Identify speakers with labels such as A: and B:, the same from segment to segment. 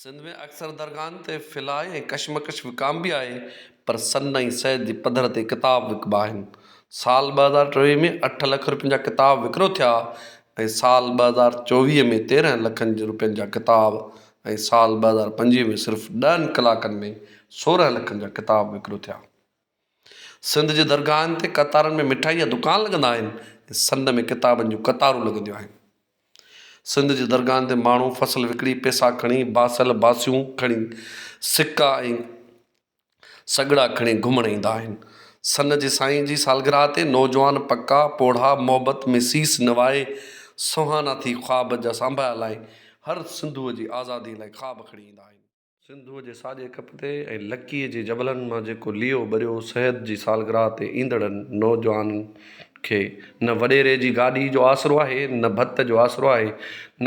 A: سنڌ ۾ اڪثر درگاهن تي ڦلاء ۽ ڪشمڪش وڪامبي آهي پر سن ۽ سيد جي پڌر تي ڪتاب وڪبا آهن. سال ٻه هزار ٽيويهه ۾ اٺ لک رپين جا ڪتاب وڪرو ٿيا ۽ سال ٻه هزار چوويهه ۾ تيرهن لکن رپين جا ڪتاب ۽ سال ٻه هزار پنجويهه ۾ صرف ڏهن ڪلاڪن ۾ سورهن لکن جا ڪتاب وڪرو ٿيا. سنڌ جي درگاهن تي قطارن ۾ مٺائي جا دڪان لڳندا آهن ۽ سنڌ ۾ ڪتابن جون قطارون لڳنديون آهن. سنڌ جي درگاهن تي ماڻهو فصل وڪڻي پيسا کڻي باسل باسيون کڻي سڪا ۽ سڳڙا کڻي گهمڻ ايندا آهن. سن جي سائين جي سالگرهه تي نوجوان پڪا پوڙها محبت ۾ سيس نوائي سونهانا ٿي خواب جا سانڀايا لائي هر سنڌوء جي آزادي لاء خواب کڻي ايندا آهن. سنڌوء جي ساڄي ڪپ تي ۽ لڪيء جي جبلن مان جيڪو ليئو ٻريو سيد جي سالگراهه تي ايندڙن نوجوانن کي نه وڏيري جي گاڏيء جو آسرو آهي نه ڀت جو آسرو آهي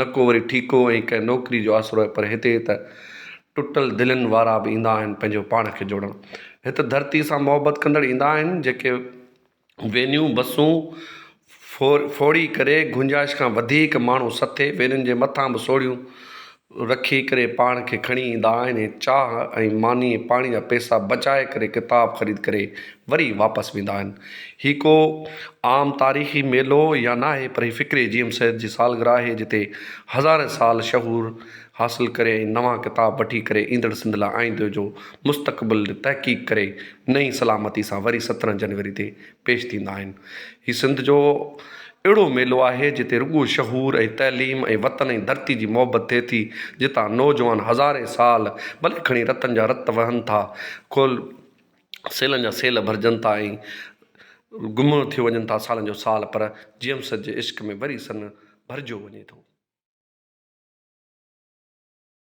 A: نه ڪو وري ٺيڪو ۽ ڪنهن نوڪريء جو آسرو آهي پر هتي ته ٽٽل دلين وارا به ايندا آهن پنهنجو پاڻ کي جوڙڻ هت ڌرتيء سان محبت ڪندڙ ايندا آهن جيڪي وينيون بسون ڦوڙي ڪري گنجائش کان وڌيڪ ماڻهو سٿي وينين جي مٿان به سوڙهيون رکي ڪري پاڻ کي کڻي ايندا آهن ۽ چاهه ۽ ماني ۽ پاڻي جا پئسا بچائي ڪري ڪتاب خريد ڪري وري واپس ويندا آهن. هي ڪو عام تاريخي ميلو يا ناهي پر هي فڪري جي ايم سيد جي سالگرهه آهي جتي هزارين سال شهور حاصل ڪري ۽ نوان ڪتاب وٺي ڪري ايندڙ سنڌ لاء آئيندي جو مستقبل جي تحقيق ڪري نئين سلامتي سان وري سترهن جنوري تي پيش ٿيندا آهن هي سنڌ جو اهڙو ميلو آهي جتي رڳو شعور ۽ تعليم ۽ وطن ۽ ڌرتي جي محبت ٿئي ٿي جتان نوجوان هزارين سال ڀلي کڻي رتن جا رت وهن ٿا کول سيلن جا سيل ڀرجن ٿا ۽ گم ٿيو وڃن ٿا سالن جو سال پر جيم سج جي عشق ۾ وري سن ڀرجيو وڃي ٿو.